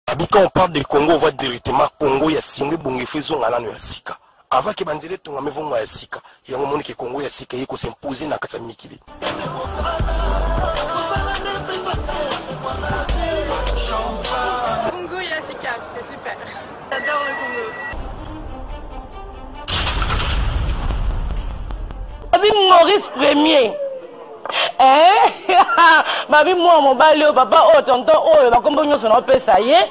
Abi quand on parle de Congo, on voit directement Congo ya Singwe Bongefe Zonga nano ya sika. avant ke banzela etonga mevongo ya sika yango omoni ke kongo ya sika eye kosimpose na kati ya mikili Congo ya sika c'est super j'adore le Congo abi maurice premier eh? babi mwana mobali oyo papa oyo tonton oyo bakombo nyonso naopesa ye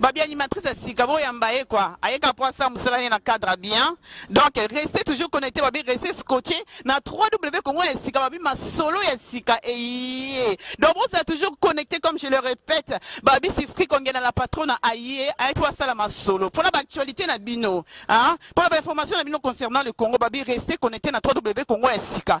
babi animatrice ya sika boyamba ye kua ayeka mpo asala mosala ye na cadre bien donc reste toujours connecté babi reste scotché na 3w congo ya sika babi masolo ya sika eye donc bozala toujours connecté comme je le répète babi sifri kongena la patrona aye aye mpo asala masolo mpona baactualité na bino hein? Pour la information na bino concernant le Congo, babi restez connecté na 3W Congo ya sika.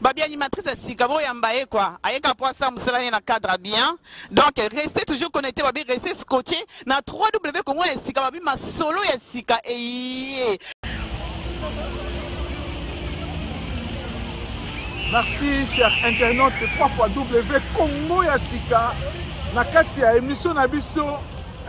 Babi animatrice ya sika boyamba ye kwa ayeka mpo asala mosala ye na cadre bien donc reste toujours connecté babi reste scotché na 3w congo ya sika babi masolo ya sika eye merci cher internaute 3 fois w congo ya sika na kati ya émission na biso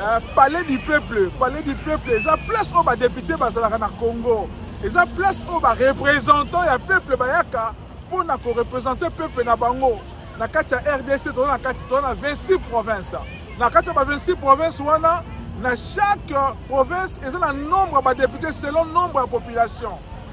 Euh, palais du peuple palais du peuple eza place oyo badepute bazalaka na congo eza place oyo barepresentant ya peuple bayaka mpo na korepresente peuple na bango na kati ya rdc toza na kati toza na 26 province na kati ya ba 26 province wana na chaque province eza na nombre ya badepute selon nombre ya population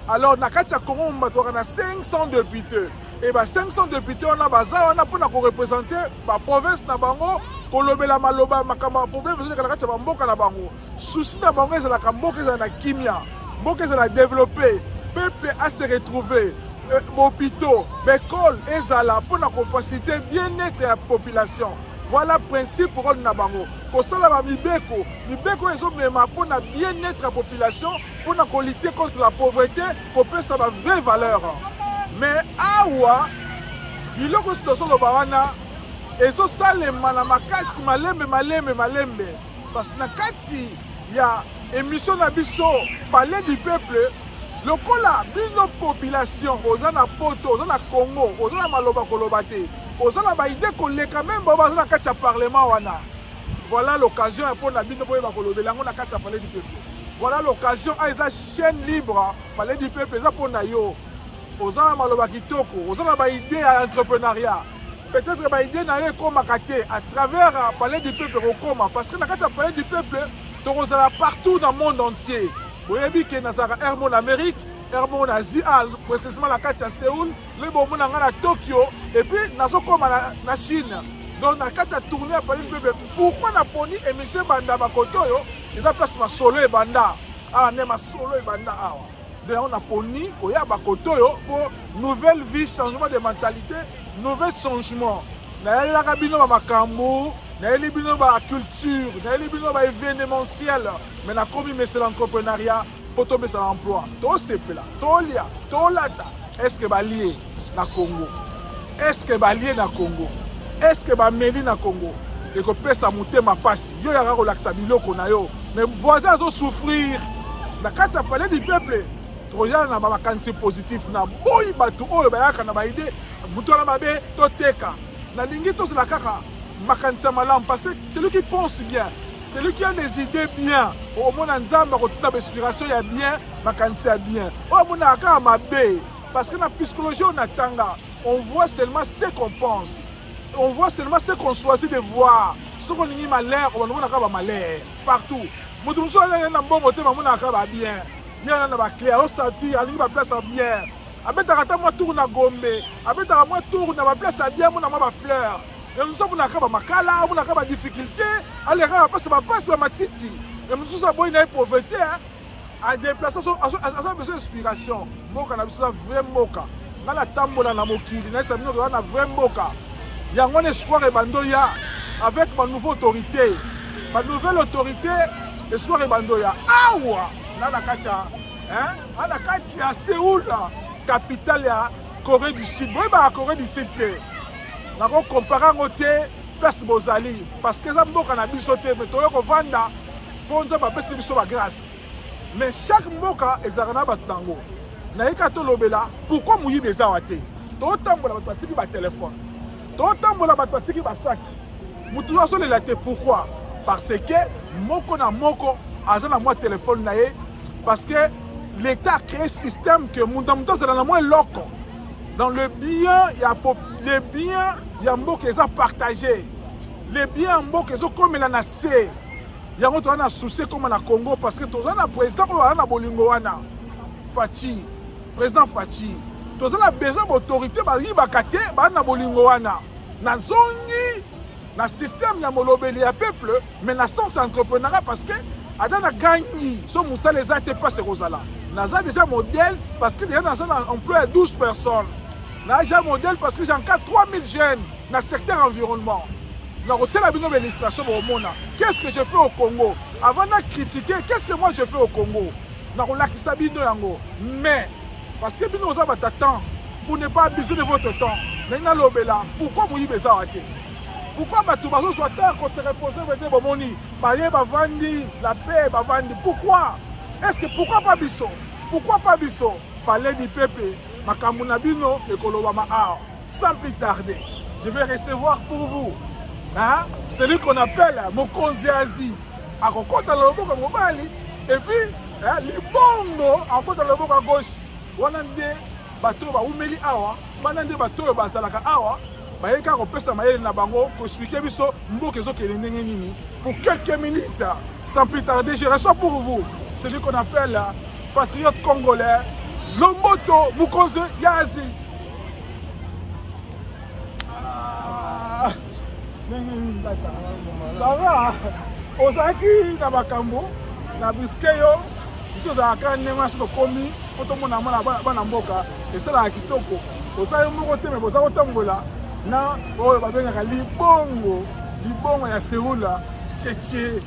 alors na kati ya congo mombatoaka na 500 depute et ba 500 députés wana baza wana mpona korepresente baprovince na bango kolobela maloba makambo ya problème ezoleka na kati ya bamboka na bango susi na bango ezalaka mboka ezala na kimia mboka ezala développe peuple a se retrouver euh, bopito baekole ezala mpona kofacilite bien-être ya population voilà principe role na bango kosala bamibeko mibeko ezomema mpona bien-être ya population mpona kolite contre la pauvreté kopesa ba vrai valeur mais awa biloko nyonso tozoloba wana ezosalema na makasi malembe malembe malembe parce na kati ya emission na biso palais du peuple lokola bino population oza na poto oza na congo oza na maloba koloba te oza na baide koleka meme baoyo baza na kati ya parlement wana Voilà l'occasion ya pona bino boyeba kolobela yango na kati ya palais du peuple. Voilà l'occasion a ah, eza chaîne libre ah, palais du peuple eza pona yo. Oza na maloba kitoko, oza na ba idée ya entrepreneuriat. Peut-être ba idée na yo ekomaka te à travers ah, palais du peuple okoma parce que na kati ya palais du peuple tokozala partout dans le monde entier. Boyebi ke nazalaka Hermon Amérique, Hermon Asie, précisément na kati ya Séoul. lobi bomona ngai na tokyo epuis nazokoma na, na chine donc na kati ya tourne ya palais bebe pourkui naponi émission ebanda bakoto oyo eza place masolo ebanda awa nde masolo ebanda awa nde yango naponi koya bakoto oyo mpo nouvelle vie changement de mentalité nouvel changement nayelelaka bino bamakambo nayeli bino baculture nayeli bino baévénementiel mais nakomi mesel entrepreneuriat mpo topesana emploi tosepela tolia tolata estce balie na congo estce balie na congo estce bameli na congo ekopesa motema mpasi yo yaka kolakisa biloko na yo me voisin azosouffrir na kati ya palais du peuple toyala na bamakanisi positif na boyi bato oyo bayaka na baide moto wana mabe toteka nalingi tozala kaka makanisi ya malamu parce que celui qui pense bien celui qui a des idées bien omona nzambe akotuna bainspiration ya bien makanisi ya bien oyo amonaka kaka mabe parce que na psychologie oyo natanga on voit seulement ce qu'on pense on voit seulement ce qu'on choisit de voir soki olingi malheur obanda omonaka bamalheur partout moto mosusu alele na mbongo te mamonaka babien ye wana na baclé aosantir alingi baplace ya bien abetaka ata mwa tour na gombe abetaka mwa tour na baplace ya bien mona mwa bafleur ya mosusu amonaka bamakala amonaka badifficulté alekaka bapasi bapasi ba matiti ya mosusu aboyi na ye pauvreté adeplace aza besoin inspiration mboka na biso eza vrai mboka nga natambola na mokili nayesa bino toza na vrai mboka yango wana espoir ebando ya avec ma nouveau autorité ma nouvelle autorité espoir ebando ya awa na na kati ya na kati ya seoul capitale ya corée du sud boyebaka corée du sud te nakokompare yango te place bozali parce que eza mboka na biso te me toye kovanda mpo nzambe apesi biso bagrâce mais chaque mboka ezalaka na bato nango nayika tolobela pourkui moyibi ezawa te totambola bato batiki batelefone totambola bato batiki basaki mutu yo azolela te pourquoi parce que moko na moko aza na mwa telefone na ye parce que l'état a créé système que mutu na mutu azala na mwa eloko dans le bien ya le bien ya mboka eza partage le bien ya mboka ezokomela na se yango toza na souci ekoma na congo parce que toza na président oyo aza na bolingo wana faci président faci toza na besoin baautorité bayibaka te baza na bolingo wana nazongi na système ya molobeli ya peuple mais na sens entreprenara parce que ata na gangi so mosala eza te mpasi ekozala naza déjà modèle parce que déjà naza na emploi ya 12 personnes naja modèle parce que j'encadre 3000 jeunes na secteur environnement nakotiela bino bélistration bokomona qu'est ce que je fais au congo avant na critiquer qu'est ce que moi je fais au congo nakolakisa bino yango mais parce que bino oza bata temps pour ne pas abuser de votre temps mais nalobela pourquoi moyibi eza wa te pourquoi bato bazozwa temps ya koterepose vete bomoni baye bavandi la paix bavandi pourquoi est ce que pourquoi pas biso pourquoi pas biso palais du peuple makambo na bino ekolobama awa sans plus tarder je vais recevoir pour vous hein? celui qu'on appelle mokonzi asie akokota na loboko ya mobali epuis eh, libongo akokota na loboko ya gauche wana nde bato oyo baumeli awa wana nde bato oyo bazalaka awa bayei kaka kopesa mayele na bango koexplike biso mboka ezokende ndenge nini pour quelques minutes sans plus tarder je reçois pour vous celui qu'on appelle patriote congolais lomboto mokonzi ya asie sava ozalaki na makambo na briske yo biso ozalaka ndenge wana soki tokomi mpo tomona mwana bana mboka esalaka kitoko oza yo moko te me boza kotambola na oyo babengaka libongo libongo ya seula cheche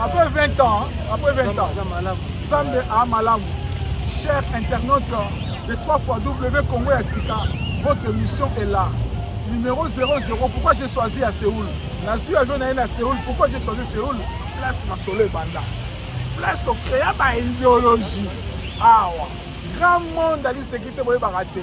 Après 20 ans, après 20 ans, Zambe a malamu. Cher internaute de 3 fois W Congo ya Sika, votre mission est là. Numéro 00, pourquoi j'ai choisi à Séoul Nazui avion na à Séoul, pourquoi j'ai choisi Séoul Place ma solo banda. Place to créa ba idéologie. Awa. Grand monde ali sekite boye baraté.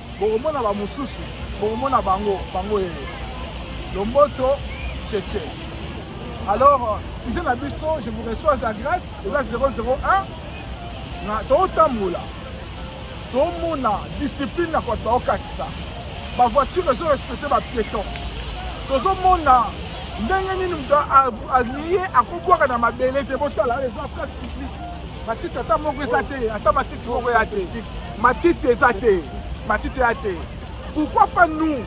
bokomona ba mususu bokomona bango bango ye lomboto cheche alors sujet na biso je vous reçois sa grâce eza 001 na totambola tomona discipline ya koto okatisa bavoiture ezo respecte bapieton tozomona ndenge nini moto alie akobwaka na mabele te bosala eza place publique matiti ata moko eza te ata matiti Boko ya te. Matiti eza te. Matiti ya te. Pourquoi pas nous?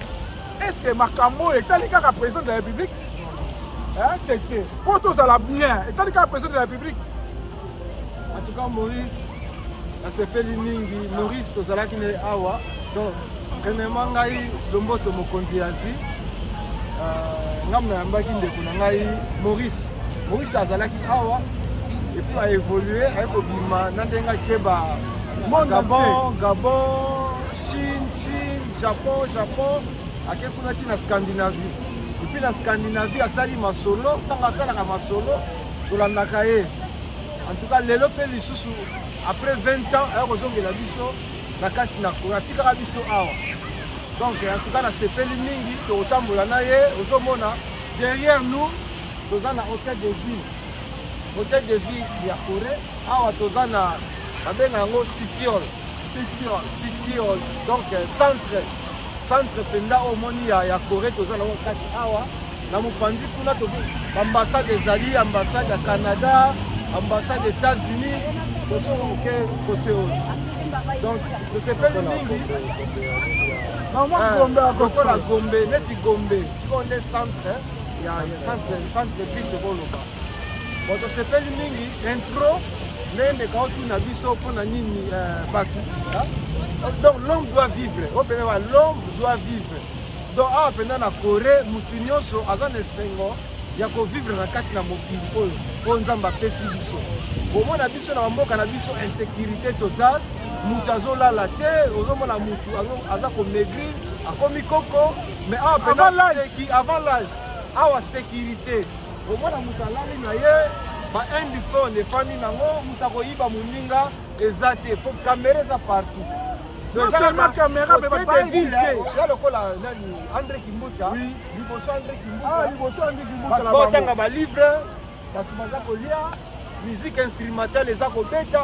Est-ce que makambo etali kaka président de la République? Hein, Tchétché. Pour tous à la bien. Etali kaka président de la République. En tout cas, Maurice, nasepeli mingi. Maurice tozalaki na awa. Donc, premièrement ngai Lomboto mokonzi ya Asie. Euh, ngai nayambaki ndeko na ngai Maurice Maurice azalaki awa epuis aévolue aye kobima na ndenge akeba gabon gabon chine chine japon japon ake kuna ti na scandinavie epuis na scandinavie asali masolo ntango asalaka masolo tolandaka ye en tout cas lelo mpe lisusu après 20 ans aye kozongela biso na kati na kona atikaka biso awa donc en tout cas nasepeli mingi tokotambola na ye ozomona derrière nous toza na hotel de ville hotel de ville ya corée awa toza na babenga yango citiol citiol citiol donc euh, centre centre mpenza oyo omoni ya, ya corée toza na yango kati awa na mopanzi kuna ambassade ezali ambassade ya canada ambassade états-unis tozonga moke kote oyo donc tosepeli mingi lokola gombe neti gombe sikoyo nde centre ya centre centre ville de boloba bon tosepeli mingi intro ndenge ndeka otuna biso mpo na nini euh, bato donc l'homme doit vivre oyo mpenza ba l'homme doit vivre donc awa mpenza na corée motu nyonso aza na esengo ya kovivre na kati na mokili oyo oyo nzambe apesi biso komona biso na bamboka na biso insécurité totale moto azolala te ozomona motu aza komaigrir akomi koko Mais awa pena seki avant l'âge. Awa sécurité. Omona moto alali na ye ba indiphone efandi nango moto akoyiba moninga eza te po kamera eza partout ya lokola nani andre kimbuta liboso andre kimbuta botanga balivre bato baza kolia musique instrumentale eza kobeta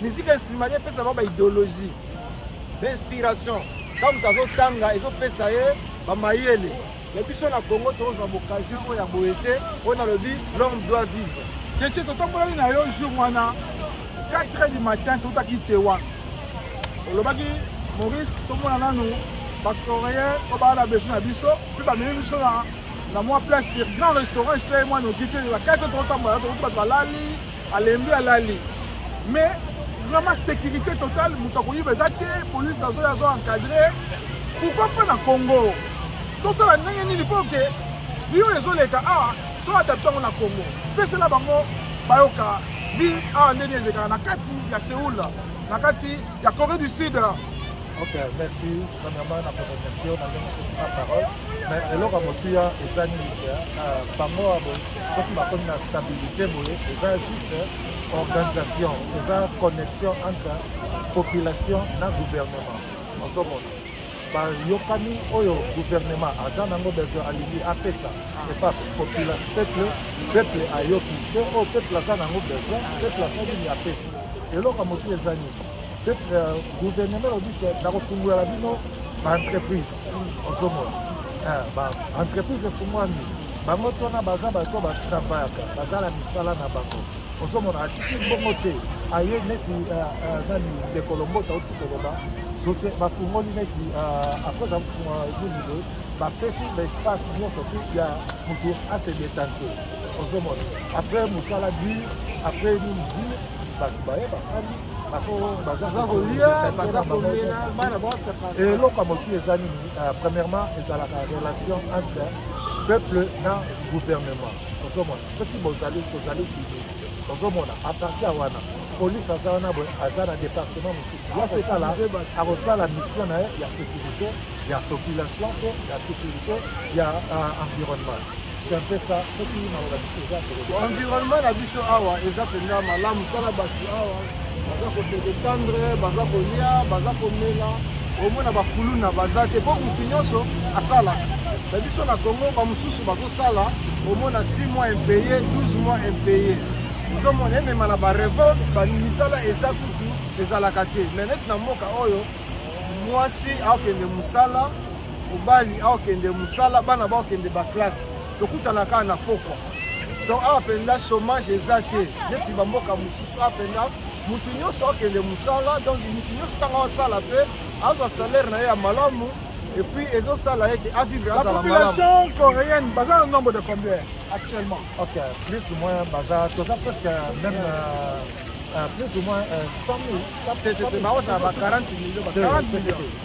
musique instrumentale epesa bango baideologie d'inspiration ntango moto azotanga ezopesa ye bamayele ya biso na congo tozwa boccasion oyo ya boye te oyo nalobi l'homme doit vivre cheche totambolaki na yo jour wana 4 heures du matin totaki tewa olobaki maurice tomona nanu bacoréen oyo baa na beso na biso mpe bamemi biso na na mwa place grand restaurant esila ye mwa noki te ba 4 heures totambola tokuti bato balali alembi alali mais vraiment sécurité totale moto akoyiba eza te polise azoya azo encadre pourkoi mpo na congo tosala ndenge nini mpo ke biyo ezoleka awa to adapte yango na congo pesela bango bayoka bi awa nde nini elekaka na kati ya seoul na kati ya corée du sud ok merci premièrement na proposition na ndenge opesi na parole mais eloko ya motuya eza nini euh, bango soki bakomi na stabilité boye eza juste organisation eza connexion entre population na gouvernement ozomona bayokani oyo gouvernement aza nango besoin alingi apesa epa population peuple peuple ayoki te oyo oh, peuple aza nango besoin peuple aza nini apesa eloko ya motuya eza nini euh, gouvernement elobi te nakofungola bino baentreprise ozomona eh, ba entreprise efungwami bango tona baza bato batravayaka baza na misala na bango ozomona atiki bongo te aye neti eh, eh, nani ndeko lombota oti koloba sose bafungoli neti apres afunga nini boye bapesi baespace nyonso te ya motu ase detante ozomona apres mosala bir apres nini bir bato baye bafandi eloko ya motu eza nini euh, premièrement ezalaka relation entre peuple na gouvernement ozomona soki bozali tozali bibe ozomona apartir wana polise aza wana boye aza na département mosusu akosala akosala mission na ye ya sécurité ya population mpe ya sécurité ya euh, environnement environnement na biso awa eza mpenza malamu tala bato awa baza kosedetendre baza kolia baza komela omona bakuluna baza te mpo motu nyonso asalaka na biso na congo bamosusu bazosala omona 6 mois impeye 12 mois impeye ozomona emema na barevolte bamisala eza kutu ezalaka te me neti na mboka oyo mwasi akokende mosala mobali aokende mosala bana baokende baklasse tokutana kaka na pokwa donc awa mpenza chômage eza te neti bamboka mosusu awa mpenza motu nyonso akende mosala donc motu nyonso ntango asala mpe azwa salaire na ye ya malamu epuis ezosala ye ke avivre azala malapopulation coréenne baza na nombre de combien actuellement ok plus ou moins baza toza presque même euh, euh, plus ou moins 100 euh, 000 baoza ba 40 millions 40 millions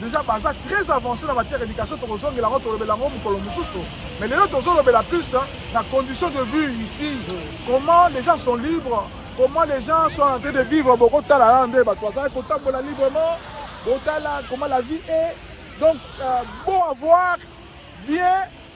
Deja baza très avancé na matière éducation tokozongela yango tolobela yango mokolo mosusu mais lelo tozolobela plus na condition de vie ici comment les gens sont libres comment les gens sont en train de vivre bokotala wana nde bato bazali kotambola librement botala comment la vie est donc euh, bon avoir bien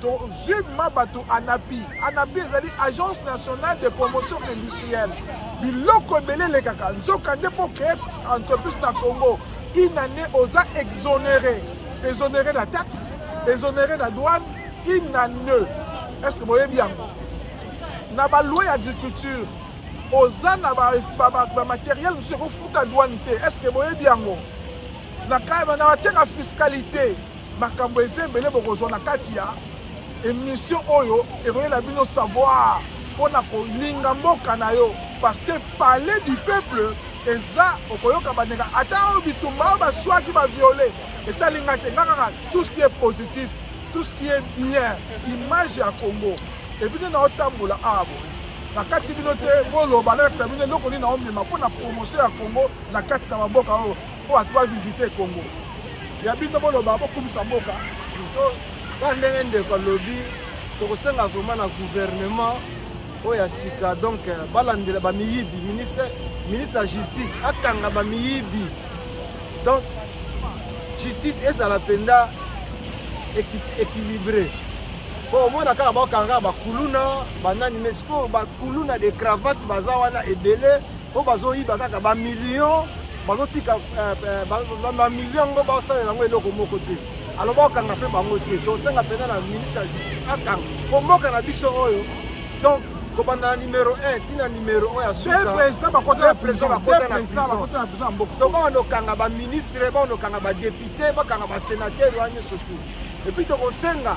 tozwi ma bato anapi anapi ezali agence nationale de promotion industrielle biloko ebele elekaka nzoka nde mpo créer entreprise na congo une année oza exonéré exonéré na taxe exonéré na douane une année est ce que boyebi yango na baloi ya agriculture oza na bamateriel mosusu ekofuta douane te est ce que boyebi yango na kayeba na batiaka fiscalité Makambo eza ebele bokozwa na kati ya emission oyo ekoyela bino savoir mpo na kolinga mboka na yo parce que palais du peuple eza okoyoka bandeka ata oyo bitumba oyo baswaki baviole etali ngai te nga kaka tout ce qui est positif tout ce qui est bien image ya congo epuis nde naotambola awa boye na kati bino te boloba nalakisa bino eloko nini naomema mpo na promotion ya congo na kati na bamboka oyo po atu ba visite Congo ya bino boloba bokumisa mboka ka ndenge ndeko alobi tokosenga vraiment na gouvernement oyo ya sika donc euh, balandela bamiyibi ministre ministre ya justice akanga bamiyibi donc justice ezala mpenza équilibré po omona kaka bakanga bakuluna banani mais sikoyo bakuluna de cravate baza wana ebele po bazoyiba kaka bamillion bazotika eh, eh, bamillion yango baosalela yango eloko moko te aloba okanga mpe bango te tosenga mpenza na ministre ya justice akanga po mboka na biso oyo donc kobanda na numero 1 ti na numero oyo ya sukapresident bakota na prison to bakanda okanga baministre bakanda okanga badepute bakanga basenatere wana nyonso tu epuis tokosenga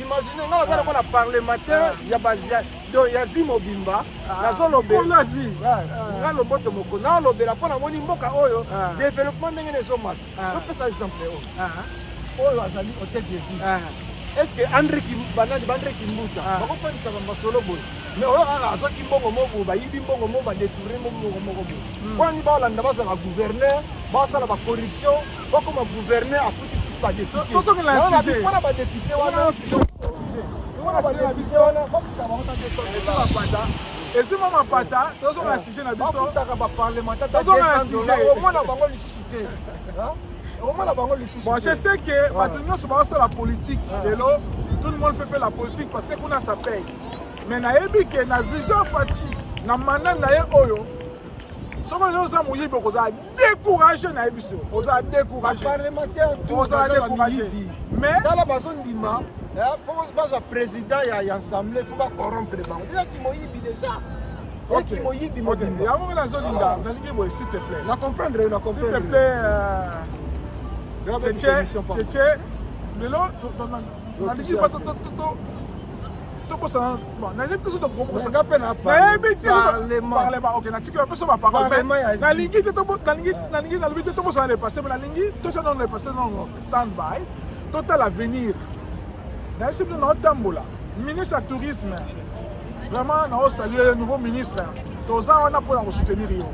Imaginez nga naza lokola parlementaire ya bazia do ya zi mobimba ah. nazolobela ah. nga loboto moko naolobela mpo namoni mboka oyo ah. développement ndenge nezomata topesa exemple oyo oyo azali hotel de ville est ce que andre banani baandre kimbuta bakofandisa bamasolo boye mais oyo kaka azwaki mbongo moko boye bayibi mbongo moko badetourne mbongo moko boye hmm. mponi baolanda bazala gouverneur basala bacorruption okoma gouverneur akuti badeputepona badepute wanapona badepute wana bakuta bango na desabanda ezwi mwa mapata tozonga na sujet na bisotaka baparlementat omona bango lisusu te omona bango lisusu bon je sais que bato nyonso baosala politique lelo tout le monde fait fait la politique parce que kuna ça paye mais nayebi ke na vision faci na manda na ye oyo soki oza moyibi okozala décourage na ye biso oza décourage oza décourage mais tala bazondima po eh, bazwa président ya assemblée fo bacorrompre bango eza kimoyibi déjà okimoyibi mobimba yango nga nazolinga nalingi boye s'il te plaît na comprendre yo na comprendre s'il te plaît euh, tete tete lelo nalingi tokosana bon nayebi te so tokokosanaka mpe na nayebi te parlement ok natiki bapesa baparole mais nalingi te nalingi nalobi te tokosana le passé mais nalingi tosa nono le passé nono stand by totala avenir nayesi bino naotambola ministre ya tourisme vraiment naosalue nouveau ministre toza wana mpo na kosoutenir yo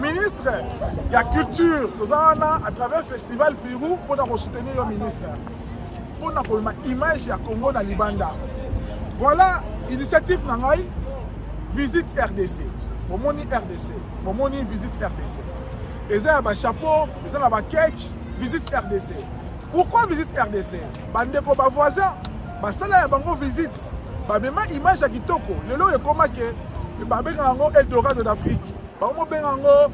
ministre ya culture toza wana à travers festival firu mpo na kosoutenir yo ministre mpo na koloma image ya congo na libanda voilà initiative na ngai visite rdc bomoni rdc bomoni visite rdc eza ya bachapeau eza na baketch visite rdc pourquoi visite rdc bandeko bavoisin basala ya bango visite bamema image ya kitoko lelo oyo ekoma ke babengaka yango eldorado d'afrique bango mobenga yango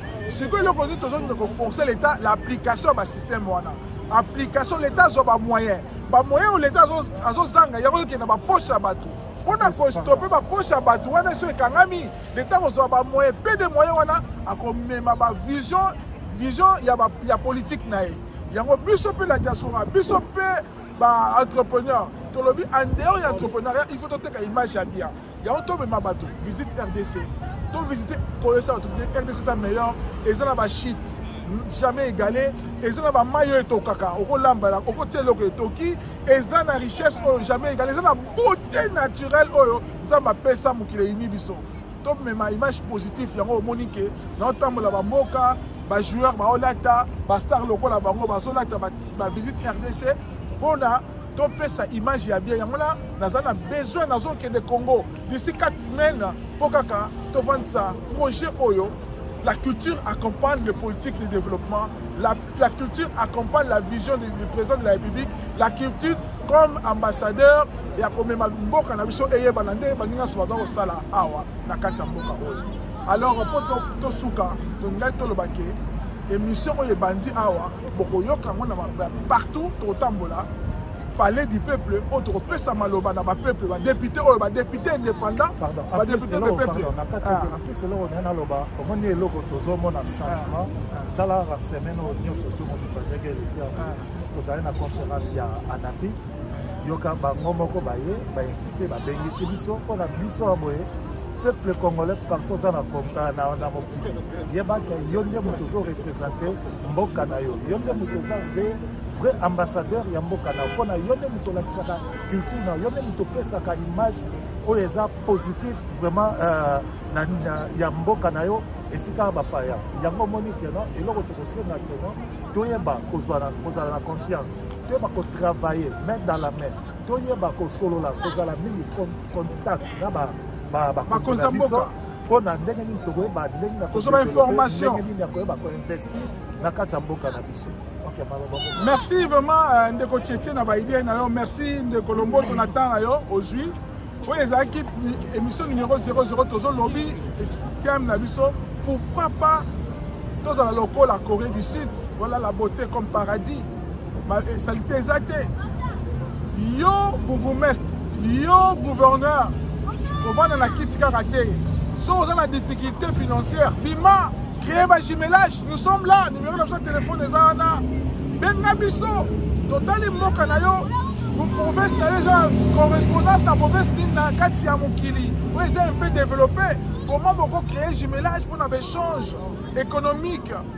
sikoyo eloko nini tozonde koforce l'état l'application ya basystème wana application l'état azwa bamoyen bamoyen oyo l'état azozanga yango ezokende baposhe ya bato mpo na kostope baposhe ya bato wana esi ekangami l'état kozwa bamoyen mpe de moyen wana akomema bavision vision ya, ba, ya politike na ye yango biso mpe na diaspora biso mpe baentrepreneur tolobi en dehors ya entrepreneuriat il faut toteka image ya bien yango tomema bato visite rdc to visite koyesa bato rdc eza meilleur eza na bashite jamais égalé eza na bamai oyo etokaka okolambala okotia eloko etoki eza na richesse oyo jamais égalé eza na beauté naturelle oyo nzambe apesa mokili eyini biso tomema image positif yango omoni ke naotambola bamboka bajoueur baolata bastar lokola bango bazolata bavisite rdc mpona topesa image ya bien yango na naza na besoin nazokende congo d'ici 4 semaine mpo kaka tovandisa projet oyo la culture accompagne les politiques de développement la, la culture accompagne la vision du, du président de la république la culture comme ambassadeur ya komema mboka na biso eyebana nde baninga nyonso baza kosala awa na kati ya mboka oyo alors mpo tosuka tolingaki toloba ke émission oyo ebandi awa bokoyoka yango na partout tokotambola palais du peuple oyo tokopesa maloba na bapeuple badepute oyo badepute indépendant badepute de peuple plus eloko naye naloba omoni eloko tozomona changement ah, ah. tala ba semaine oyo nyonso to moto bandeke eleki yango ah. ozali na conférence ya anapi yoka bango moko baye bainvite babengisi biso mpo na biso ya boye peuple congolais partout oza na mokili yebaka yo nde moto ozorepresente mboka na yo yo nde moto oza ve vrai ambassadeur ya mboka na yo mpo na yo nde moto olakisaka culture na yo nde moto opesaka image oyo eza positif vraiment euh, na, na, ya mboka na yo esika bapaya yango omoni keno eloko tokosenga keno toyeba kozala na conscience toyeba kotravaille main dans la main toyeba kosolola kozala mingi contact na bakonzi na biso mpo na ndenge nini tokoyeba ndenge na kozwa information ndenge nini ya koyeba koinvestir na kati ya mboka na biso merci vraiment euh, ndeko tietie na baidee na yo merci ndeko lomboto na temps na yo ozwi oyo ezalaki émission numéro 00 tozolobi thème na biso pourquoi pas tozala lokola corée du sud voilà la beauté comme paradis salite eza te yo bourgmestre yo gouverneur kovanda na kiti kaka te so oza na difficulté financière bima créer bajumelage nous sommes là numéro na biso ya telefone eza wana benga biso totali mboka na yo province na yo eza correspondance na province nini na kati ya mokili oyo eza un peu développé comment boko créer jumelage mpo na baéchange économique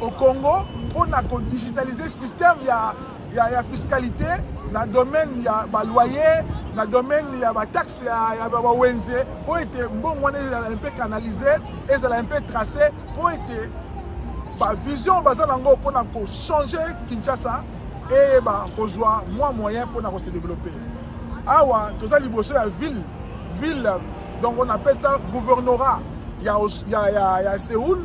au Congo pour na ko digitaliser système ya ya, ya fiscalité na domaine ya ba loyer na domaine ya ba taxe ya, ya ba wenze pour ete mbongo wana ezala un peu canaliser ezala un peu tracer pour ete ba vision baza nango pour na ko changer Kinshasa et ba kozwa mwa moyen pour na ko se développer awa toza liboso ya ville ville donc on appelle ça gouvernorat ya, ya, ya, ya Séoul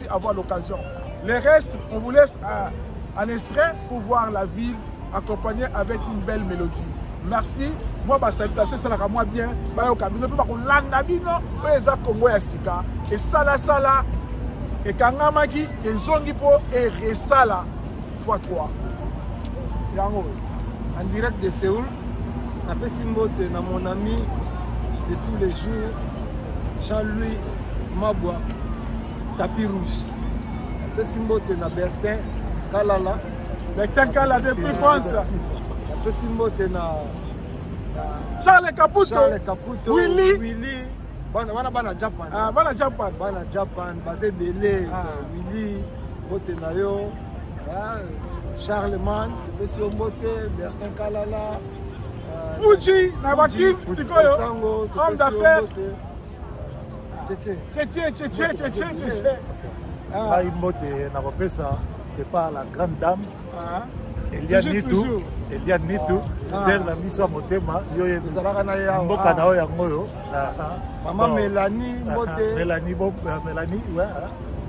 avoir l'occasion. Les restes, on vous laisse à, à Nesret pour voir la ville accompagnée avec une belle mélodie. Merci. Moi, ma salutation, c'est la moi bien. Bayo Kabino, puis bako landa bino, oyo eza Congo ya sika. Et sala sala, et kangamaki, et zongi po, et resala, fois 3. Yango, en direct de Séoul, na pesi mbote na mon ami de tous les jours, Jean-Louis Mabwa, Tapis rouge. Pesi mbote na Bertin Kalala. Bertin Kalala depuis France. Pesi mbote na Charles Caputo. Charles Caputo. Willy. Willy. Bana bana bana Japan. Ah bana Japan. Bana Japan basé belé. Ah. Willy mbote na yo. Ah, Charlemagne, pesi yo mbote, Bertin Kalala. Euh, Fuji na bakin sikoyo. Homme d'affaires. ngai mbote nakopesa epa la grande dame ah. elia nitu elia nitu ah. ser na miso ya motema yo ye mboka ah. na yo yango oyo mama melanie mbote melanie melanie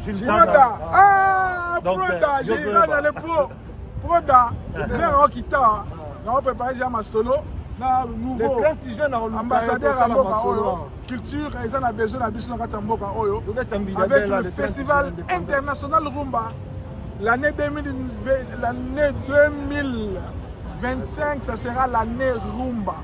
Proda, ah, Proda, j'ai eu ça dans les pros. Proda, mère en guitare, on prépare déjà ma solo. na nouveau ambassadeur ya mboka oyo culture eza na besoin na biso na kati ya mboka oyo avec le festival international rumba l'année 2025 ça sera l'année rumba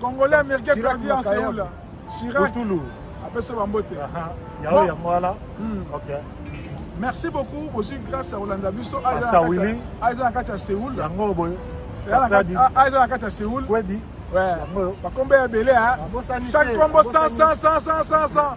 congolais américain perdu en seoul chirac apesa bambote yango yango wana hmm. ok merci beaucoup bozwi grâce ya kolanda biso aza ah, na kati ya seoul yango boye aza ah, ah, na kati ya seoul bakombe ya ebele chaque kombo 100 100 100 100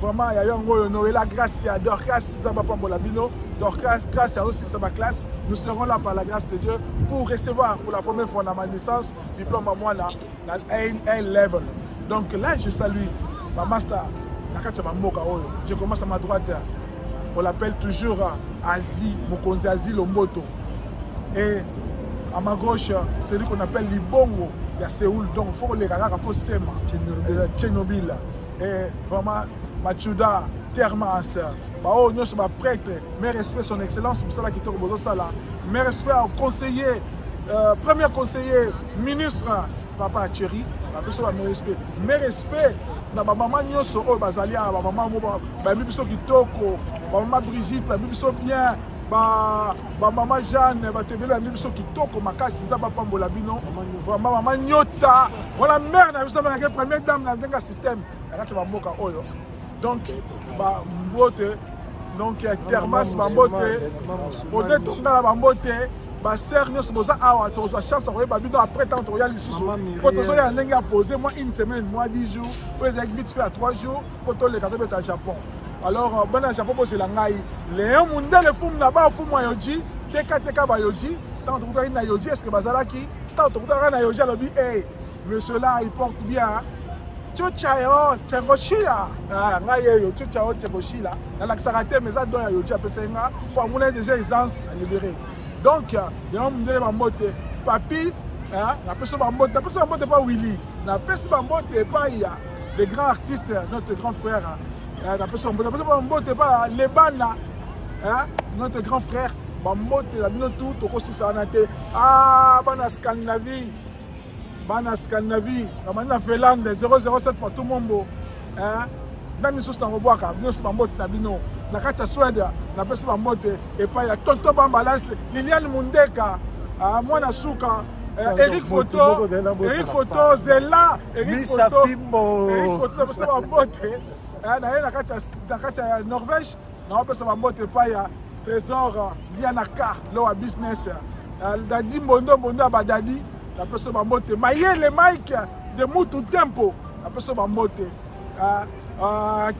vraiment ya yango oyo noela grâce ya dorcas nzambe apambola bino dorcas grâce ya osisa baclasse nous serons là par la grâce de dieu pour recevoir pour la première fois na ma naissance diplôme ya mwana na a level donc là je salue bamaster na kati ya bamboka oyo je commence à ma droite on l'appelle toujours asie mokonzi asie lomboto et à ma gauche celui qu'on appelle libongo ya seoul donc fo koleka kaka fo sema tchenobil eh, vraiment machuda termas baoyo nyonso baprêtre mais respect son excellence mosala kitoko bozosala mais respect au conseiller euh, premier conseiller ministre papa cheri bapesa ba respect mais respect na bamama nyonso oyo bazali awa bamama yango bayambi biso kitoko bamama brigitte bayambi biso bien bamama jeanne bato ebele bayambi biso kitoko makasi nzambe apambola bino vraiment mama nyota Voilà mère na biso amelaki première dame na ndenge ya système na kati ya bamboka oyo donc bambote donc ya termas bambote ode tongala bambote basere nyonso boza awa tozwa chance ya koyeba bino après ntango tokoya lisusu mpo tozoya ndenge ya pose mwa une semaine mwa 10 jours oyo ezalaki vite fait ya 3 jours mpo toleka tobeta japon alors euh, bana ya japon bozela ngai leon mundele fumu na ba fumu ya yoji tekateka bayoji ntango tokutaki na yoji estce bazalaki ntango tokutaka na yoje alobi e monsieur la il porte bien cuca yo temboshila ah, ngai yeyo cuca yo temboshila nalakisaka te mais eza don ya yoje apesaki nga mpo amona déjà aisance na libéré donc yango mondele bambote papi napesi bambote napesi bambote mpa willi napesi bambote epai ya le grand artiste notre grand frère napesi bambote napesi bambote epai ya lebana notre grand frère bambote na bino tu tokosisa wana te ah, bana scandinavie bana scandinavie namani na finlande 007 patou mombo na misusu nakobwaka nyonso bambote na bino na kati ya swede napesi bambote epai ya tonto bambalase liliane mundeka ah, mwana suka eh, Eric Foto, Eric Foto, Zella, Eric Foto, Eric Foto, napesa bambote eh, na ye na kati ya Norvège naopesa bambote epai ya trésor lianaka lowa business dadi mbondo mbondo ya badadi napesa bambote mayele mike de mutu tempo napesa bambote ah, ah,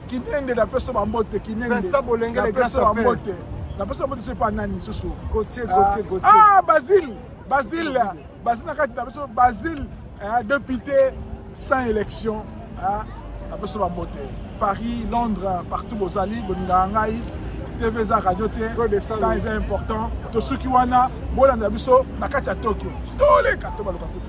kinende napesa bambote kinendenapesa bambote napesa bambote sopa nani susu ah, basile Basile, basile na kati na biso basile hein, député sans élection hein, na biso bambote paris londres partout bozali bolingaka ngai tv eza radio te temps eza important tosuki wana bolanda biso na kati ya tokyo toleka to baluka kutu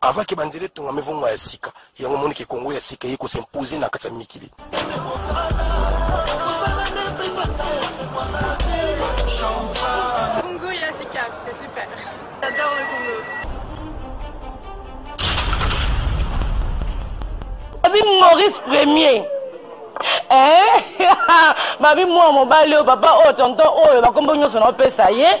avant que banzela etongame vongo ya sika yango omoni ke kongo ya sika eye kosimpose na kati ya mikili Congo ya sika c'est super j'adore le Congo babi maurice premier eh? babi mwana mobali oyo papa oyo tonton oyo bakombo nyonso naopesa ye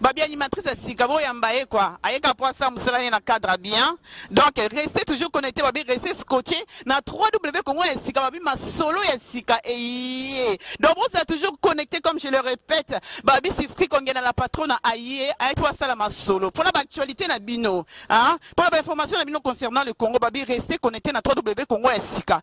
babi animatrice ya sika boyamba ye kua ayeka mpo asala mosala ye na cadre bien donc reste toujours connecté babi reste scotché na 3w congo ya sika babi masolo ya sika eye donc bozala toujours connecté comme je le répète babi sifri kongena la patrona aye ayaki mpo asala masolo mpo na baactualité na bino mpo na bainformation na bino concernant le congo babi reste connecté na 3w congo ya sika